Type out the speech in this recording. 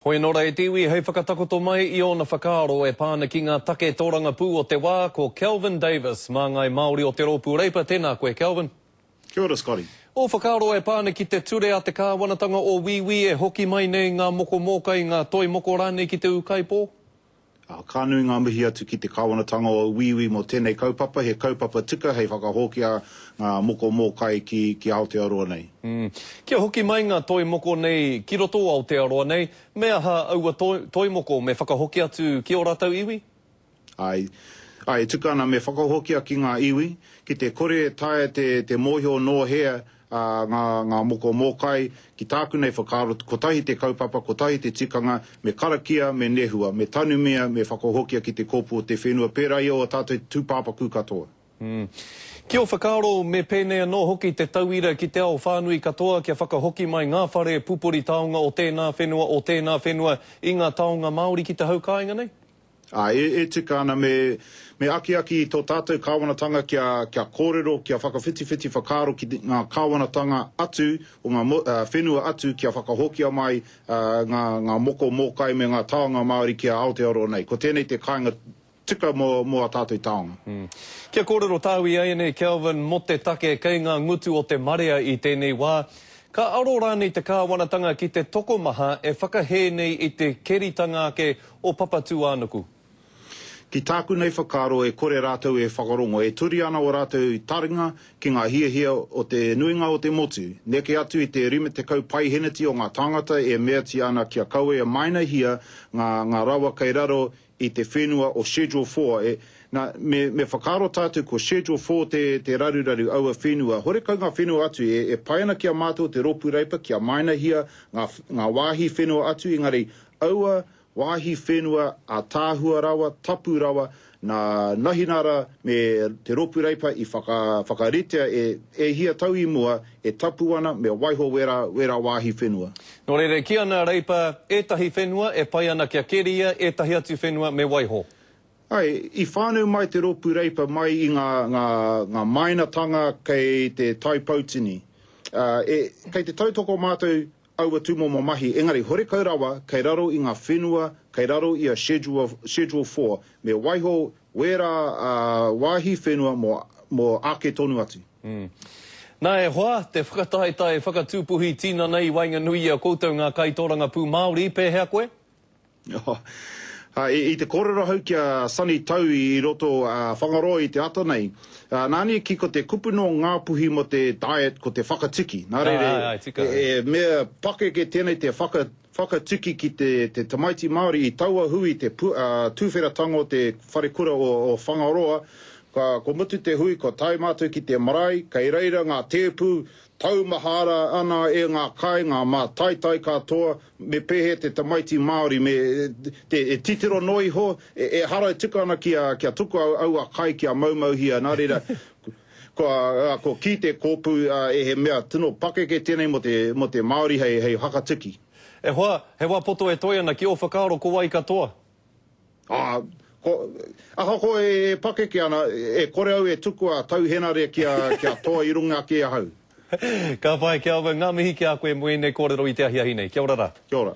Hoi anō rā e te iwi hei whakatakoto mai i ōna whakaaro e pā ana ki ngā take tōrangapū o te wā, ko Kelvin Davis, māngai Māori o te rōpū Reipa, tēnā koe Kelvin. Kia ora Scotty. Ō whakaaro e pā ana ki te ture a te kāwanatanga o Wīwī e hoki mai nei ngā moko mōkai, ngā toi moko rānei ki te ūkaipō? Ka nui ngā mihi atu ki te Kāwanatanga o Wīwī mō tēnei kaupapa, he kaupapa tika hei whakahōkia ngā moko mōkai ki Aotearoa nei. Kia hoki mai ngā toi moko nei ki roto o Aotearoa nei, me aha aua toi moko me whakahoki atu ki ō rātou iwi? Āe. Āe, e tika ana me whakahōkia ki ngā iwi, ki te kore e taea te mōhio nō hea ā, ngā, ngā moko mōkai, ki tāku nei whakaaro, kotahi te kaupapa, kotahi te tikanga, me karakia, me nehua, me tanumia, me whakahokia ki te kōpu o te whenua, pērā i ō tātou tūpāpaku katoa. Umm. Ki ō whakaaro, me pēnei anō hoki te tauira ki te ao whānui katoa kia whakahoki mai ngā whare pupuri taonga o tēnā whenua, o tēnā whenua i ngā taonga Māori ki te hau kāinga nei? Ā, e tika ana me akiaki i tō tātou Kāwanatanga kia kōrero, kia whakawhitiwhiti whakaaro ki ngā Kāwanatanga atu o ngā whenua atu kia whakahokia mai ngā moko mōkai me ngā taonga Māori ki a Aotearoa nei. Ko tēnei te kāinga tika mō ā tātou taonga. Kia kōrero tāu i a ianei Kelvin mō te take kei ngā ngutu o te marea i tēnei wā, ka aro rānei te Kāwanatanga ki te tokomaha e whakahē nei i te keritanga ake o Papatūānuku. Ki tāku nei whakaaro e kore rātou e whakarongo, e turia ana o rātou taringa ki ngā hiahia o te nuinga o te motu, neke atu i te 50 paiheneti o ngā tāngata e meatia ana kia kawea maenahia ngā ngā rawa kei raro i te whenua o Schedule Four e Na, me, me whakaaro tātou ko Schedule Four te, te raruraru aua whenua. Horekau ngā whenua atu e, e pai ana ki a mātou te Rōpū Reipa kia maenahia ngā, ngā wāhi whenua atu, engari Aua wāhi whenua ātaahua rawa, tapu rawa, nā Nahinara me Te Ropu Reipa i whakaritea e hia tau i mua e tapu ana me waiho wera wera wāhi whenua. Nō reira ki ana Reipa ētahi whenua e pai ana kia keria ētahi atu whenua me waiho. Ae, i whānau mai Te Ropu Reipa mai i ngā ngā ngā māinatanga kei te Tai Poutini. E, kei te tautoko mātou aua tūmomo mahi, engari horekau rawa kei raro i ngā whenua kei raro i a Schedule Four, me waiho wērā wāhi whenua mō ake tonu atu. Nā, e hoa, te whakataetae whakatūpuhi tinana i waenganui i a koutou ngā kaitōrangapū Māori, pēhea koe? Ohh. I te kōrero ahau ki a Sonny Tau i roto a Whangaroa i te ata nei, nāni ki ko te kupu nō Ngāpuhi mō te diet ko te whakatiki. Nā reira, he mea pakeke tēnei te whakatiki ki te tamaiti Māori i taua hui te tuwheratanga o te wharekura o Whangaroa. Ko mutu te hui kua tae mātou ki te marae, kei reira ngā tēpu Tau mahara ana e ngā kāinga mā taetae katoa me pēhea te tamaiti Māori me te, e titiro noa iho, ehara e tika ana kia, kia tuku aua kai kia maumauhia, nā reira, kua, kua kī te kōpū e he mea tino pakeke tēnei mō te, mō te Māori hei, hei whakatuki. E hoa, he wā poto e toe ana ki ō whakaaro ko wai katoa? Ā, ko, ahakoa e pakeke ana, e kore au e tuku a Tauhenare kia, kia toa i runga ake i ahau. Ka pai, Kelvin. Ngā mihi ki a koe, Moe, i nei kōrero i te ahiahi nei. Kia ora rā. Kia ora.